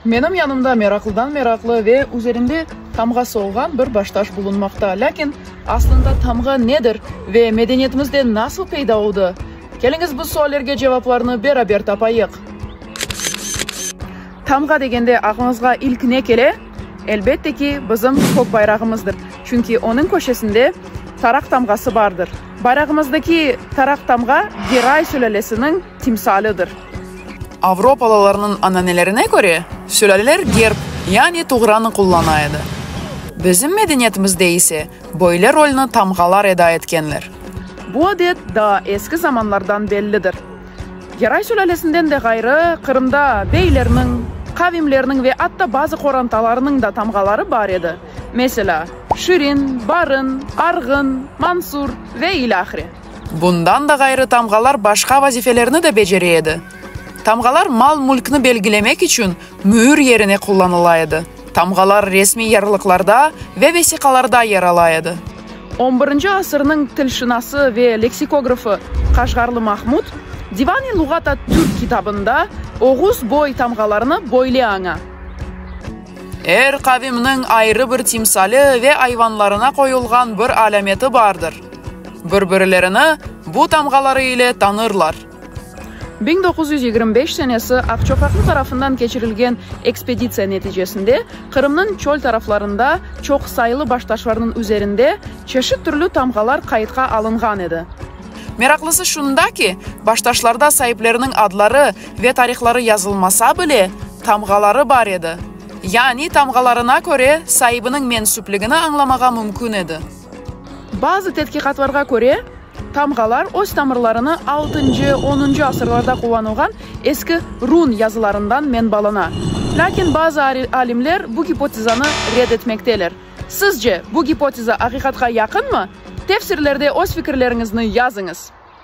Menim yanımda meraqlıdan meraqlı ve üzerinde tamğası olğan bir baştaş bulunmaqta. Lâkin aslında tamğa nedir ve medeniyetimizde nasıl peyda oldı? Keliñiz, bu suallerge cevaplarnı beraber tapayıq. Tamğa degende aqlıñızğa ilk ne kele? Elbette ki, bizim kök bayrağımızdır. Çünki onıñ köşesinde taraq tamğası bardır. Bayrağımızdaki taraq tamğa Geray sülâlesiniñ. timsalidir. Avropalılarnıñ ananelerine köre, sülaleler gerb, yani tuğranı qullana edi. Bizim medeniyetimizde ise böyle rolni tamğalar eda etkenler. Bu adet daa eski zamanlardan bellidir. Geray sülalesinden de ğayrı, Qırımda beylerniñ, qavimlerniñ ve atta bazı qorantalarınıñ da tamğaları bar edi, meselâ, Şirin, Barın, Arğın, Mansur ve ilâhre. Bundan da ğayrı tamğalar başqa vazifelerni de becere edi. Tamğalar mal-mülkni belgilemek içün müür yerine qullanıla edi. Tamğalar resmiy yarlıqlarda ve vesiqalarda yer ala edi. On birinci asırnıñ tilşınası ve leksikografı Qaşğarlı Mahmud Divan-i luğat at-Türk kitabında oğuz boy tamğalarını böyle aña. Er qavimniñ ayrı bir timsali ve ayvanlarına qoyulğan bir alâmeti bardır. Bir-birlerini bu tamğaları ile tanırlar. Biñ doquz yüz yigirmi beş senesi Aqçoqaqlı tarafından keçirilgen ekspeditsiya neticesinde Qırımnıñ çöl taraflarında çoqsaylı baştaşlarnıñ üzerinde çeşit türlü tamğalar qayıtqa alınğan edi. Meraqlısı şunda ki, baştaşlarda saipleriniñ adları ve tarihları yazılmasa bile, tamğaları bar edi. Yani tamğalarına köre saibiniñ mensüpligini añlamağa mümkün edi. Bazı tedqiqatlarğa köre, tamğalar öz tamırlarını altıncı, onuncu asırlarda qullanılğan eski run yazılarından menbalana. Lâkin bazı alimler bu gipotezanı red etmekteler. Sizce, bu gipoteza aqiqatqa yaqınmı? Tefsirlerde öz fikirleriñizni yazıñız.